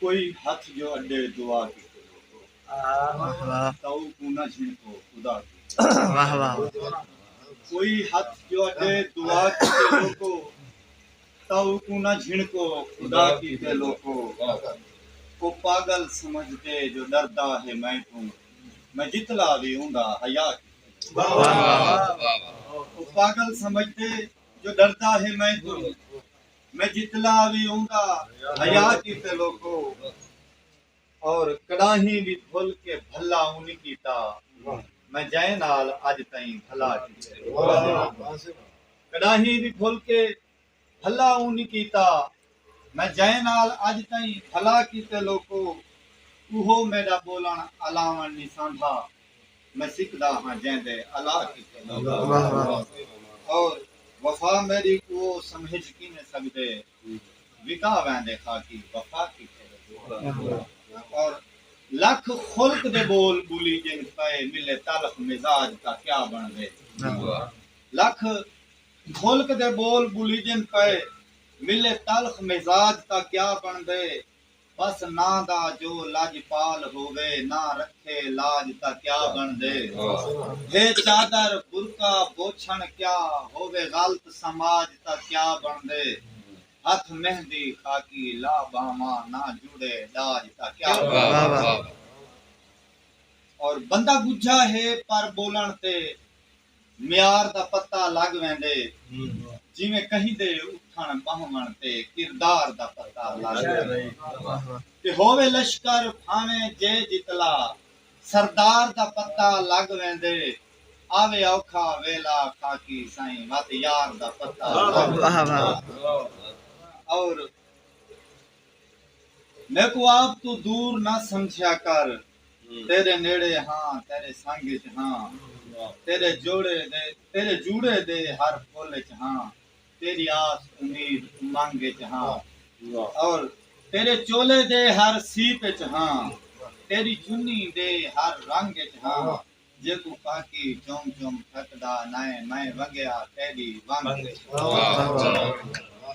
کوئی ہتھ جو اݙے دعا کیتے لوکو تئو کوں نہ جھنکو خدا کیتے لوکو او پاڳل سمجھدے جو ݙردا ہے میں توں میں جتلا وی اوندا حیا کیتے لوکو۔ جو ڈردا ہے میں توں میں جتلا وی ہوندا حیا کیتے لوکو اور کڈاہیں وی بھل کے بھلا اونی کیتا میں جئیں نال اج تئیں بھلا کیتے کڈاہیں وی بھل کے بھلا اونی کیتا میں جئیں نال اڄ تئیں بھلا کیتے لوکو اوہو میݙا ٻولݨ الاوݨ نی ساندا میں سکھدا ہاں جیندے الا کیتے لوکو اور وفا میݙی کوو سمہج کینے سڳدے وکا ویندے خاکی وفا کیتے لوکو اور لکھ خلق دے ٻول ٻلی جن پئے ملے تلخ مزاج تاں کیا بݨدے لکھ خلق دے ٻول ٻلی جن پئے ملے تلخ مزاج تاں کیا بݨدے بس ناں دا جو لاجپال ہووے ناں رکھے لاج تاں کیا بݨدے ہے چادر برقع بوچھݨ کیا ہووے غلط سماج تاں کیا بݨدے ہتھ مہندی خاکی لا ٻانہواں ناں جوڑے ݙاج تاں کیا بݨدے اور بندہ ڳجھا ہے پر ٻولݨ تے معیار دا پتہ لڳ ویندے جیویں کہیں دے اٹھݨ ٻہوݨ تے کردار دا پتہ لڳ ویندے تے ہووے لشکر بھانویں جے جتلا سردار دا پتہ لڳ ویندے آوے اوکھا ویلا خاکی سائیں وت یار دا پتہ لڳ ویندے میکوں آپ توں دور نہ سمجھیا کر تیݙے نیڑے ہاں تیݙے سنگ اچ ہاں تیݙے جوڑے دے تیݙے جوڑے دے ہر پھل اچ ہاں تیݙی آس امید امنگ اچ ہاں اور تیݙے چولے دے ہر سیپ اچ ہاں تیݙی چنی دے ہر رنگ اچ ہاں جیکوں پاکی چم چم تھکدا نائیں میں ونگیا تیݙی ونگ اچ ہاں۔